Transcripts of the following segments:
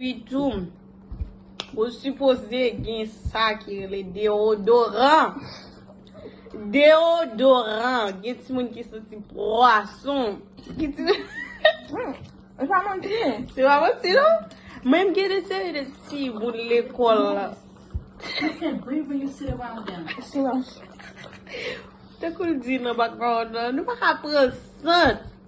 Epitou, ou sipoze gen sa ki rele deodoran. Deodoran, gen ti moun ki santi pwason. Ki ti moun... Se pa manti non. Se pa manti non. Mwen gen de seri de ti moun lekòl la. Tankou l di nan bak vawon nan, nou pa ka pran sant.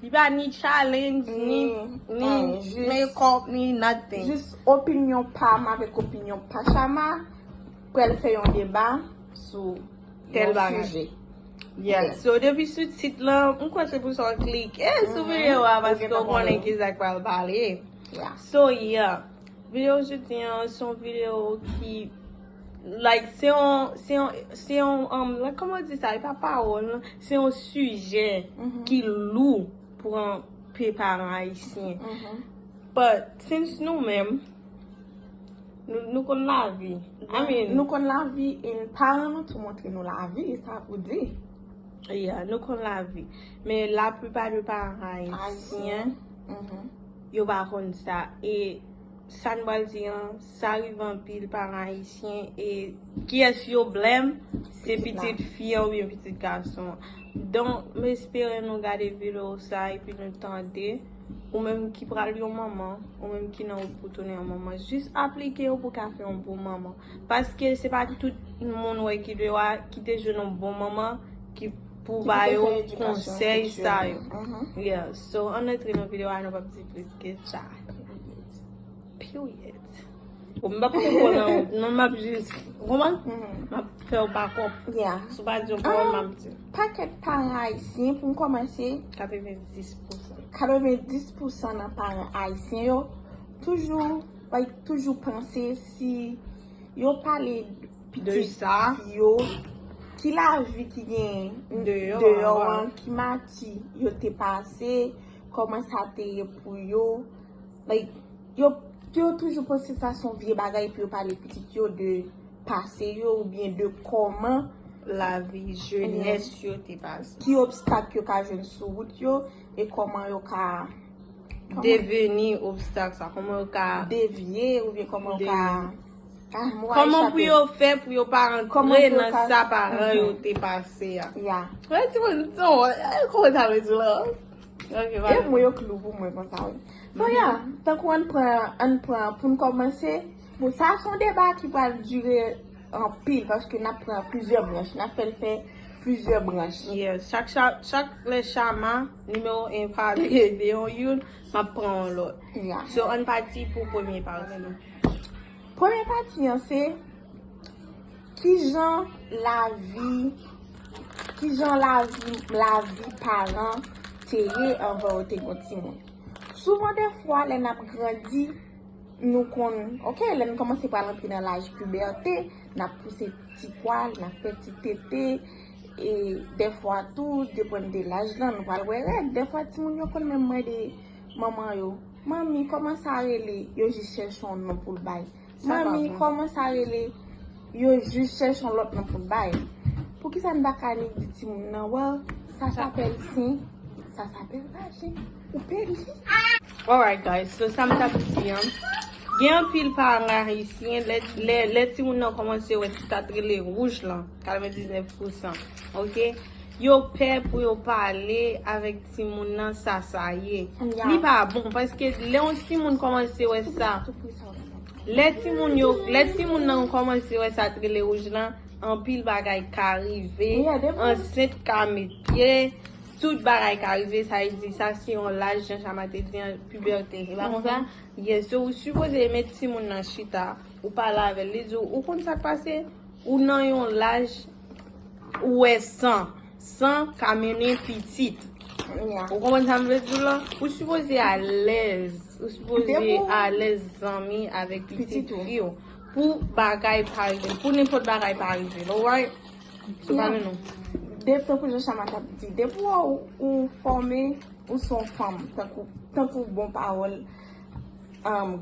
Li pa ni challenge, ni make up, ni nothing. Jis opinyon pam avèk opinyon pa Shama, pral fè yon deba sou tèl bagay. Yeah, so depi sou tit lan, m kwè se pou sa w klike sou videyo a paske w konnen ki sa k pral pale. So yeah, videyo jodi an se yon videyo ki. Like se yon, se yon, se yon, like kòman w di sa, e pa pawòl non, se yon sijè ki lou pou anpe paran ayisyen. But, since nou menm, nou konn lavi, I mean. Nou konn lavi e paran nou tou montre nou lavi, e sa pou di. Yeah, nou konn lavi. Men la plipa de paran ayisyen, yo pa konn sa. E. Sa n pral di an sa rive anpil paran ayisyen e kiyès yo blèm se pitit fi an oubyen pitit gason an donk m espere nou gade video sa epi nou tande ou menm ki pral yon manman ou menm ki nan wout pou tounen yon manman jis aplike yo pou w ka fè yon bon manman paske se pa tout moun ou wè ki dwe wa ki te jwenn yon bon manman ki pou ba yo konsèy sa yo yeah so ann antre nan video a nou p ap di plis ke sa. Mwen pa pote kòl nan wont non map jis Kouman? Map fèw bakop Sou pa diw kòl map diw Pakèt paran ayisyen pou m kòmanse 90 pousan 90 pousan nan paran ayisyen yo Toujou like toujou panse si Yo pale pitit yo Ki lavi ki gen deyò an Ki mati yo te pase Koman sa te ye pou yo. Like, yo yo toujou panse sa son vye bagay pou yo pale pitit yo de pase yo ou byen de koman lavi jenès yo te pase. Ki obstak yo ka jwenn sou wout yo e koman yo ka deveni obstak sa, koman yo ka devye ou byen koman yo ka. Koman pou yo fè pou yo pa antre nan sa paran yo te pase a. Ya. Mwen ti moun sa w e kòman sa vle di la. Ok va. E mwen yo klou pou mwen konsa w. So ya, tankou an pran an pran pou n kòmanse. Bon sa a son deba ki pral dire anpil paske n ap pran plizyè branch. N ap fè l fè plizyè branch. Yes. Chak chak chak lè chama nimewo 1 pale de yon youn. Map pran yon lot. So ann pati pou premye pati. Premye pati an se kijan lavi kijan lavi lavi paran te ye anvan yo te gen timoun. Souvan defwa lè nap grandi nou konn ok lè nou komanse pral antre nan laj pibète nap pouse ti pwal nap fè ti tete. E dèfwa tou, depann de laj lan, nou pral wè règ. Dèfwa timoun yo konn menm mande manman yo, Manmi, kòman sa rele? Yo jis chèche yon non pou l bay. Manmi, kòman sa rele? Yo jis chèche yon lòt non pou l bay. Poukisa n pa ka annik di timoun nan, Well, sa sapèl sen, sa sapèl vajen. Ou pedi. Alright guys so sam tap di an gen anpil paran ayisyen lè timoun nan kòmanse wè ti tat rele rouj lan 99 pousan ok yo pè pou yo pale avèk timoun nan sa sa ye li pa bon paske lè yon timoun kòmanse wè sa lè timoun nan kòmanse wè sa rele rouj lan anpil bagay ka rive ansent ka mete Tout bagay ka rive sa li di sa se yon laj jan chama te di an pibète e pa konsa yes so ou sipoze met timoun nan chita ou pale avèl li diw ou konn sak pase ou nan yon laj ou wè san san ka mennen pitit ou konprann sam vle diw la ou sipoze alèz ou sipoze alèz zanmi avèk pitit fiw pou bagay pa rive pou nenpòt bagay pa rive nou wè. Tankou jan chama tap di depi ou fòme ou son fanm tankou bon pawòl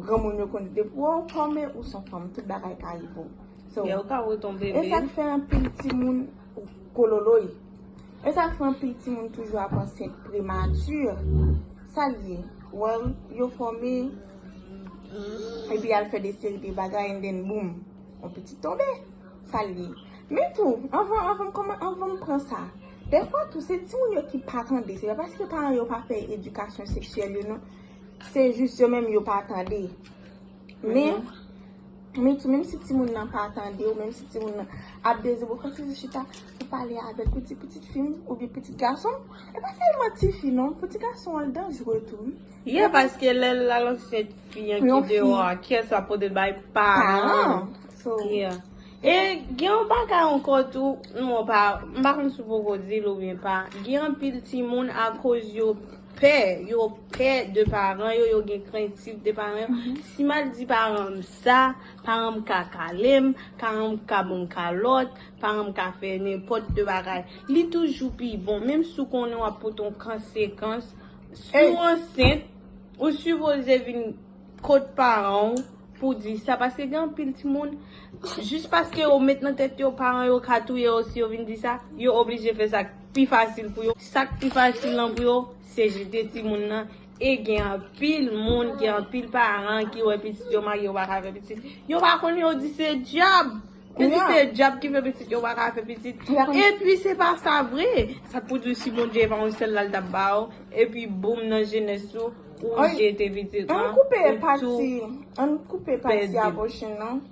granmoun yo konn di depi ou fòme ou son fanm tout bagay ka rive ou esak fè anpil timoun kololoy esak fè anpil timoun toujou ap ansent premati sal ye yo fòme epi al fè de seri de bagay and then boom yon pitit tonbe Sa l ye. Men tou, anvan anvan m kòman anvan m pran sa, dèfwa tou se timoun yo ki pa tande. Se pa paske paran yo pa fè edikasyon seksyèl yo non. Se jis yo menm yo pa tande. Men, men tou menm si timoun nan pa tande ou menm si timoun nan ap dezi bo fòk se sou chita pou pale avèk ou di pitit fi m oubyen pitit gason m. E pa sèlman ti fi non, pou ti gason an l danjre tou wi. Ye paske lè l al ansent fi an ki deyò a, kiyès l ap pote l bay? Paran. Yeah. E gen yon bagay ankò tou, non pa, m pa konn si w poko di l oubyen pa, gen anpil timoun akoz yo pè, yo pè de paran yo, yo gen krentif de paran yo, si m al di paran m sa, paran m ka kale m, paran m ka ban m kalòt, paran m ka fè nenpòt de bagay. Li toujou pi bon, menm si w konnen w ap pote yon konsekans, si w ansent, ou sipoze vin. Kot paran w pou w di sa paske gen anpil timoun jis paske yo met nan tèt yo paran yo ka touye yo si yo vin di sa, yo oblije fè sa k pi fasil pou yo. Sa k pi fasil lan pou yo se jete timoun nan e gen anpil moun, gen anpil paran ki wè pitit yo mage yo pa ka fè pitit. Yo pa konn yo di se dyab! Kounya. Esi se dyab ki fè pitit yo paka fè pitit epi se pa sa vre sa pou diw si bondye epa yon sèl la li tap baw epi boom nan jenès ou ou jete pitit lan ou tou pèdi. Ann koupe pati ann koupe pati abortion nan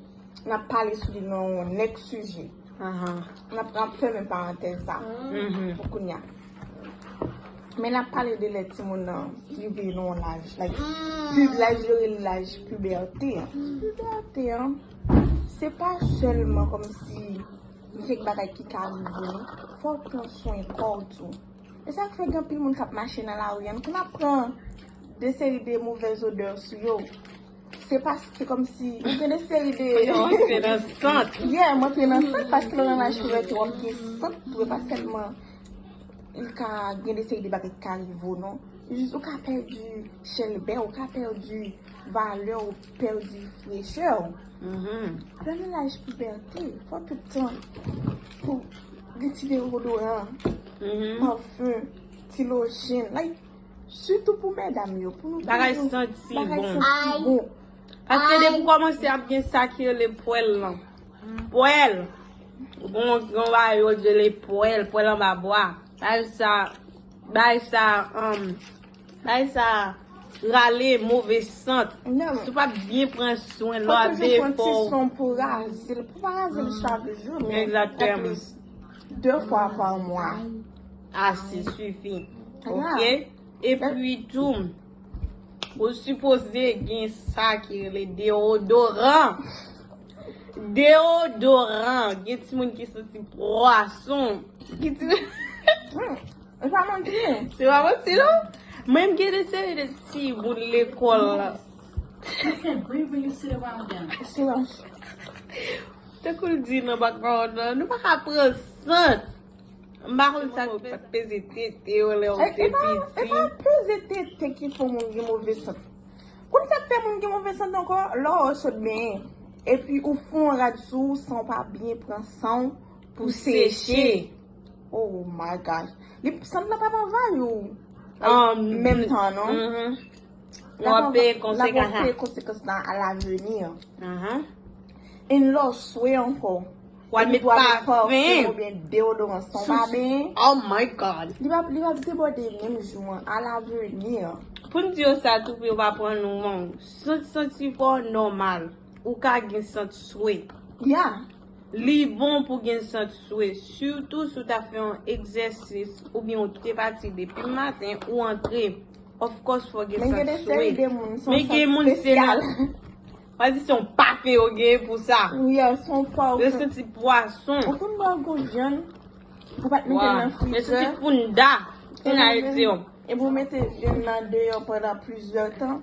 nap pale sou li nan yon nèk sijè nap nap fèmen parantèz sa pou kounya men nap pale de lè timoun nan rive nan yon laj like laj yo rele laj pibète an pibète an Se pa sèlman kòmsi gen kèk bagay ki ka rive nou, fò w pran swen kò w tou. E sa k fè gen anpil moun k ap mache nan lari an, nou konn ap pran de seri de movèz odè sou yo. Se paske kòmsi nou gen de seri de. Yo antre nan sant. Yeah, m antre nan sant paske lè w nan laj ki rete w ap gen sant tou. E pa sèlman li ka gen de seri de bagay ki ka rive w non. Jis ou ka pèdi chèlbè w, ou ka pèdi valè w. Pèdi frechè w. Premye laj pibète, fò tout tan pou retire odoran, pafon, ti lojen. Like, sitou pou medam yo. Bagay santi bon. Paske depi w kòmanse ap gen sa ki rele pwèl lan. Pwèl! Yon bagay yo rele pwèl, pwèl anba bwa. Bagay sa, bagay sa. Bagay sa rale move sant. Si w pa byen pran swen lò a defo. Fòk toujou pran ti son pou raze l. Pou pa raze l chak jou men o plis 2 fwa pa mwa. Ase sifi. Ok. E pi tou ou sipoze gen sa ki rele deodoran. Deodoran. Gen ti moun ki santi pwason. Ki ti moun. Ou pa manti non. Se pa manti non. Mwen m gen de seri de ti moun lekòl. Tankou l di nan bak mawon nan, nou pa ka pran sant. M pa konn sa ki fè peze tete w lè w te piti. E pa peze tete ki fè moun gen move sant. Ou konn sa k fè moun gen move sant ankò? Lè w sot benyen, epi ou fon rad sou w san w pa byen pran san w. Pou seche. Oh my gosh. Li sanble pa pran vay ou. An menm tan non. Mhm. Ou ap peye La konsekans pou la. peye konsekans la a laveni. Aha. Yn lè w swe ankò. Ou al met Ou al met pafen. pafen oubyen deodoran san w pa Sou- benyen. Oh my God. Li pa li pa debòde menm jou an. A laveni. Pou n di yo sa tou pou yo pa pran nou wrong. Sent senti fò nòmal. Ou ka gen sant swe. Ya! Li bon pou gen sant swe, sitou si w ta fè yon egzèsis oubyen ou kite pati depi maten ou antre. Of course fò w gen sant swe. Men gen moun se la. Mwen di se yon pake yo gen pou sa. Ya, se yon pwa ou. Yo santi pwason. Ou konn bò yon gwo vyann. Ou pa t mete l nan frijè. Yo santi pounda. Pounda yo di yo. Epi ou mete vyann nan deyò pandan plizyè tan.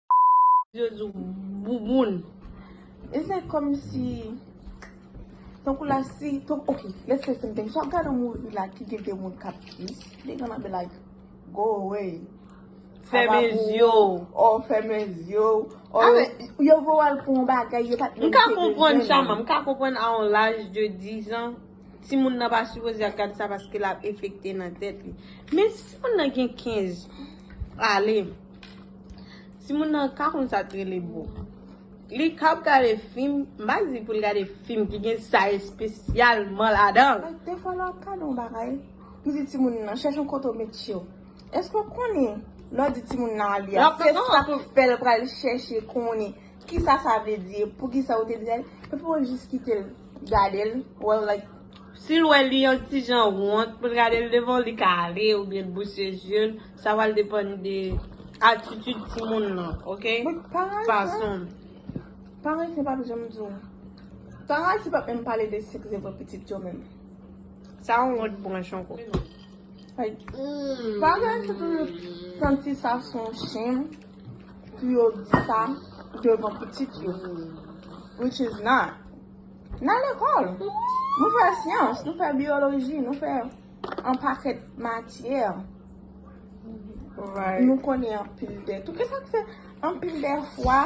Jezu bouboun e se komsi tankou la si tankou ok let's say something sot gade yon movie la ki gen 2 moun kap kiss they gonna be like go away fèmen zye w or fèmen zye w or yo voye w al pou yon bagay yo pat menm te bezwen l. M ka konprann Shama m ka konprann a yon laj de 10 an timoun nan pa sipoze ap gade sa paske lap efekte nan tèt li men si moun nan gen 15 ale. Ti moun nan ka konn sa t rele bo. Li kap gade fim, m pa di pou l gade fim ki gen sa espesyalman ladan. Like de fwa lè w ap gade yon bagay, ou di ti moun nan chèche yon kote w met je w. Èske w konnen lè w di ti moun nan li a, se sa k fè l pral chèche konnen ki sa sa vle di e poukisa ou te di sa li. Epi w jis kite l gade l, wè l like. Si l wè li yon ti jan wont pou l gade l devan w, li ka ale oubyen l bouche je l. Sa pral depann de atitid timoun lan ok. Fason. Paran ayisyen pap janm di w. Paran ayisyen pap menm pale de sèks devan pitit yo menm. Sa yon lòt branch ankò. Paran ayisyen toujou santi sa se yon shem pou yo di sa devan pitit yo. Which is not. Nan lekòl. Nou fè syans. Nou fè biyoloji. Nou fè. An pakèt matyè. Nou konnen anpil dè tou. Kè sa k fè anpil dè fwa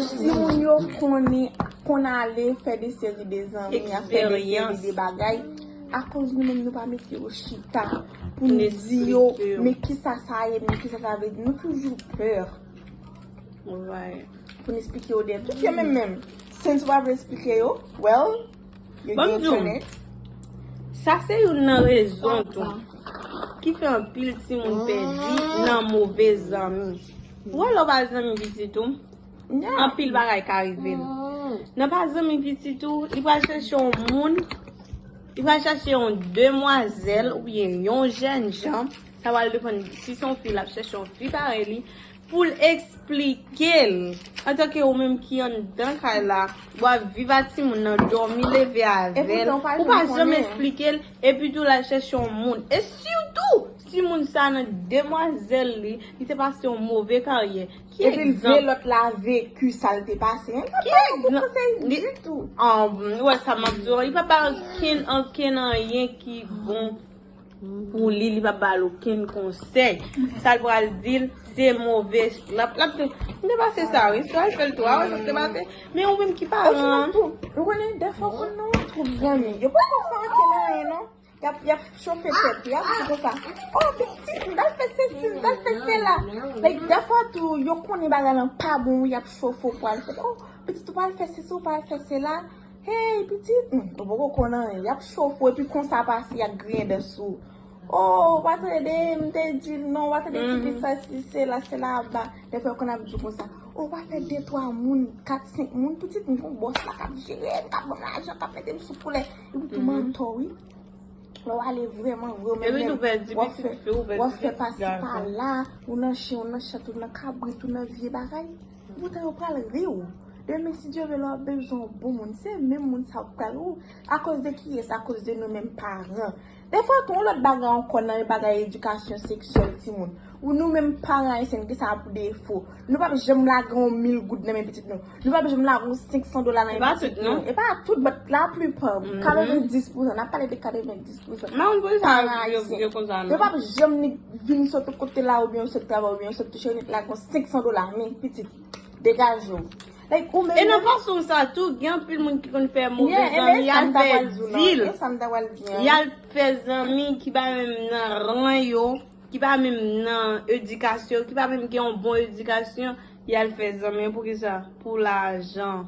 si moun yo konnen kon ale fè de seri de zanmi a fè de seri de bagay a koz nou menm nou pa mete yo chita pou nou di yo men ki sa sa ye men ki sa sa vle di nou toujou pè pou nou esplike yo de tout yo menm menm. Sen sou pa vle esplike yo well. Banm di w, sa se youn nan rezon tou ki fè anpil timoun pèdi nan move zanmi. Ou wè lè w pa zanmi pitit ou, anpil bagay ka rive l. Lè w pa zanmi pitit ou, li pral chèche yon moun, li pral chèche yon demwazèl oubyen yon jènjan, sa pral depann si se yon fi l ap chèche yon fi parèy li. Pou l esplike l. Antanke ou menm ki anndan kay la, ou ap viv ak timoun nan, dòmi, leve avè l, ou pa janm esplike l, epitou l al chèche yon moun. E sitou, si moun sa a nan demwazèl li, li te pase yon move karyè. Ki egzanp? Epi l vle lòt la veki sa l te pase. Li pa ba l bon konsèy ditou. Ou wè sa m ap di w? Li pa ba l ankenn anyen ki bon. Pou li li pa bal okenn konsèy sal pral dil se move lap lap di m te pase sa wi si wal fèl tou a wè sa m te pase men ou menm ki paran ou konnen dèfwa ou konn nan yon twoup zanmi yo pa konn fè ankenn anyen non yap yap chofe tèt yo ap di konsa o pitit m tal fè sesi m tal fè sela like dèfwa tou yo konnen bagay lan pa bon wi yap chofe ou pwal fè o pitit ou pral fè sesi ou pral fè sela. Hey pitit m ou poko konn anyen yap chofe w epi konsa pase ak griyen dan sou ou oh ou pa tande m te di l non ou pa tande ti fi sa si sela sela aba dèfwa yo konn ap di w konsa oh pa fè de twa moun kat senk moun pitit m gon bòs la kap jere m kap ban m lajan kap mete m sou koulè epi tou mantò wi lè w ale vrèman vre w menm menm wap fè pasi pala ou nan chen ou nan chat ou nan kabrit ou nan vye bagay. Poutan yo pral ri ou. Demen si Dye vle lè wap bezwen yon bon moun se menm moun sa ou k pral ri ou. Akoz de kiyès? Akoz de nou menm paran. Defwa tou yon lòt bagay ankò nan bagay edikasyon seksyèl timoun. Ou nou menm paran ayisyen gen sa pou defo. Nou pap janm lage yon mil goud nan men pitit nou. Nou pap janm lage yon 500 dola nan men pitit nou. E pa tout non. E pa tout but la plupart. 90 pousan. Nap pale de 90. Mamoun pou kisa yo konsa menm. Yo pap janm ni vin sot ou kote la oubyen yo sot travay oubyen yo sot touche nèt la gon 500 dola men pitit degaje w. Like ou menm menm. E nan fason sa tou gen anpil moun ki konn fè move zanmi yal fè dil. E sa m ta pral di an. Yal fè zanmi ki pa menm nan ran yo, ki pa menm nan edikasyon, ki pa menm gen yon bon edikasyon yal fè zanmi pou kisa pou lajan.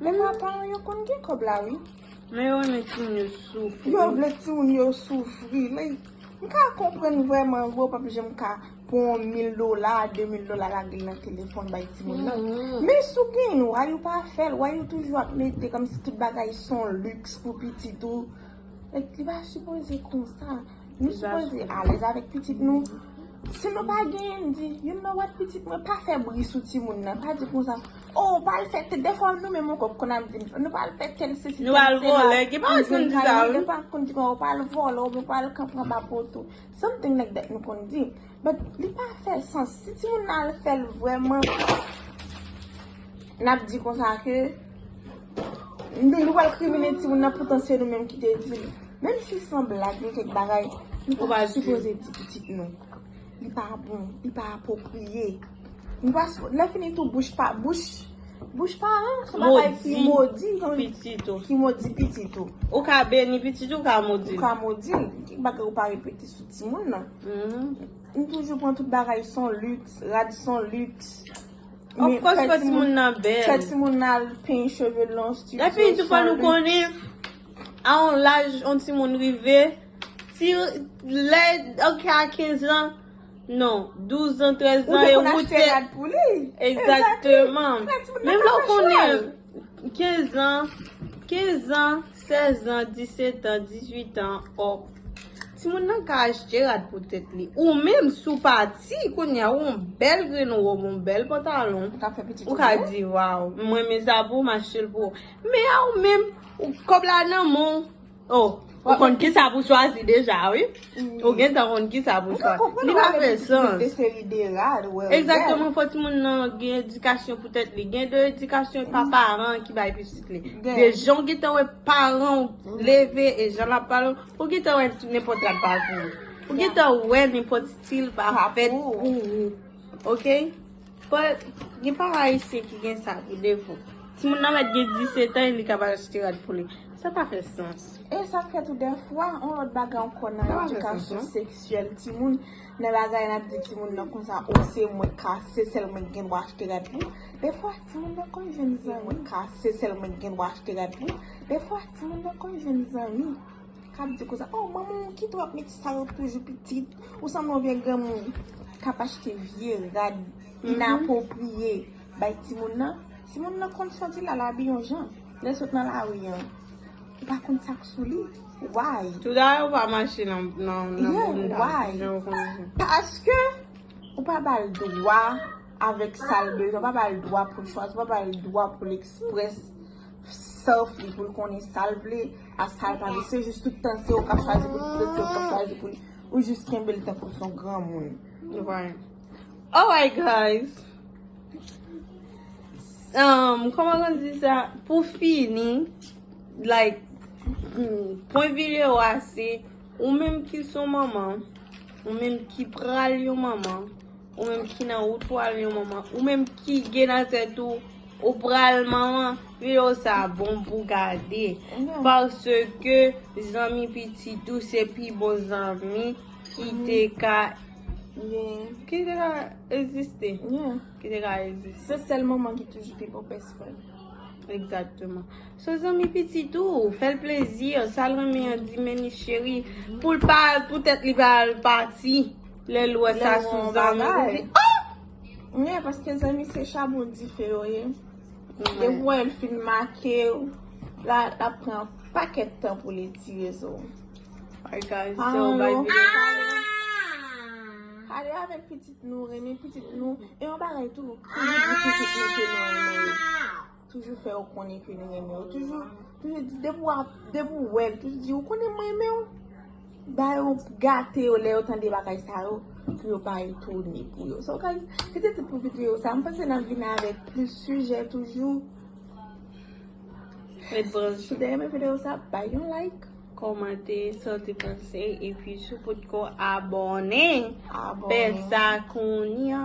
Men mwen pa yon yo konn gen kob la wi. Men yo renmen timoun yo soufri. Yo vle timoun yo soufri. M ka konprann vreman vre w pap janm ka pran yon mil dola, de mil dola lage l nan telefon bay timoun nan. Men si w gen why ou pa fè l? Why ou toujou ap mete kom si tout bagay son luxe pou pitit ou? Like li pa sipoze konsa. Nou sipoze alèz avèk pitit nou. Si nou pa gen di, you know what pitit mwen pa fè bri sou timoun nan. Pa di konsa. Oh ou pral fè tè dèfwa nou menm ankò konn ap di nou pral fè tèl sesi Nou al vòlè gen pa konn di sa wi Gen pa konn di ou pral vòlè oubyen ou pral kanpe anba pòt ou Something like that nou konn di But li pa fè sans Si timoun nan al fèl vrèman Nap di konsa ke Nou nou pral krimine timoun nan poutan se nou menm ki te dil Menm si san blag gen kèk bagay Nou pa sipoze di pitit nou Li pa bon, li pa apwopriye. Nou pa sou, lè fini tou bouch pa, bouch, bouch paran son bagay ki modi pitit ou, ki modi pitit ou. Ou ka beni pitit ou, ou ka modi l. Ou ka modi l. Kèk bagay ou pa repete sou timoun nan. Nou toujou pran tout bagay son lüks, rad son lüks. Of kòs fò timoun nan bèl. Fè timoun nan al penyen cheve l nan yon stüdyo son lüks. Lè fini tou fò nou konnen, A yon laj yon timoun rive, ti lè ok a 15 lan, non, 12 an, 13 an, ou te konn achte rad pou li. Exactement. Menm lè ou konnen 15 an, 15 an, 16 an, 17 an, 18 an, ok. Timoun nan ka achte rad pou tèt li. Ou menm si ou pa ti, kounye a ou yon bèl grenn wòb, yon bèl pantalon, ou ka di waw, m renmen sa pou ou, m achte l pou ou. Men a ou menm. Kob la nan menw oh. Ou konn kisa pou chwazi deja wi. Ou gentan konn kisa pou chwazi. Li pa fè sans. Exactement fò ti moun nan gen edikasyon pou tèt li. Gen de edikasyon e pa paran ki bay pitit li. De jan ou gentan wè paranw leve e jan lap pale. Ou gentan wè nenpòt rad pa pou ou. Ou gentan wè nenpòt stil pa fèt pou ou. Ok. But gen paran ayisyen ki gen sa pou defo. Timoun nan mèt gen 17 an e li kab al achte rad pou li. Sa pa fè sans. E sa fè tou dèfwa, yon lòt bagay ankò nan edikasyon seksyèl timoun, nan bagay n ap di timoun nan konsa, o se mwen ka, se sèl mwen ki gen dwa achte rad pou ou. Dèfwa timoun nan konn jwenn zanmi. Se sèl mwen ki gen dwa achte rad pou ou. Dèfwa timoun nan konn jwenn zanmi. Kap di konsa oh manman w kite w ap met sa yo toujou pitit ou sanble yon vye granmoun kap achte vye rad inapwopriye bay timoun nan timoun nan konn santi lal abi yon jan lèl sot nan lari an ou pa konn sak sou li why yeah why paske ou pa bal dwa avèk sal bezwen ou pa bal dwa poul chwazi ou pa bal dwa poul eksprès self li poul konnen sal vle. Asal pa visye jis tout tan se ou kap chwazi pou li pito se ou kap chwazi pou li ou jis kenbel tankou son granmoun. Alright guys um koman nou di sa pou fini like pwen video a se ou menm ki son manman ou menm ki pral yon manman Ou menm ki nan wout pou al yon manman. Ou menm ki gen nan tèt ou ou pral manman. Video sa bon pou gade. Paske zanmi pitit ou se pi bon zanmi ki te ka egziste. Se sèl manman ki toujou pi bon best friend. Egzakteman. So zanmi pitit ou, fè l plezi. Sa l renmen an di men li cheri. Pou l pa, pou tèt li pa al pati. Lè l wè sa son bagay. Ou ye paske zanmi se chabon dife yo ye. Depi w wè l fin make w la l ap pran yon pakèt tan pou li tire sou w. Pale avèk pitit nou, renmen pitit nou. E yon bagay tou, toujou di pitit nou ke nou renmen yo. Toujou fè yo konnen ke nou renmen yo. Toujou di depi ou wè l, toujou di ou konnen m renmen w. Ba yo, gate yo lè yo tande bagay sa yo pou yo pa etone pou yo. So guys, se te tout pou videyo sa. M panse n ap vini avèk plis sijè toujou. Ret branche. Si w te renmen videyo sa, bay yon like. Komante sa w te panse. E pi si w potko abòne, fè sa kounya.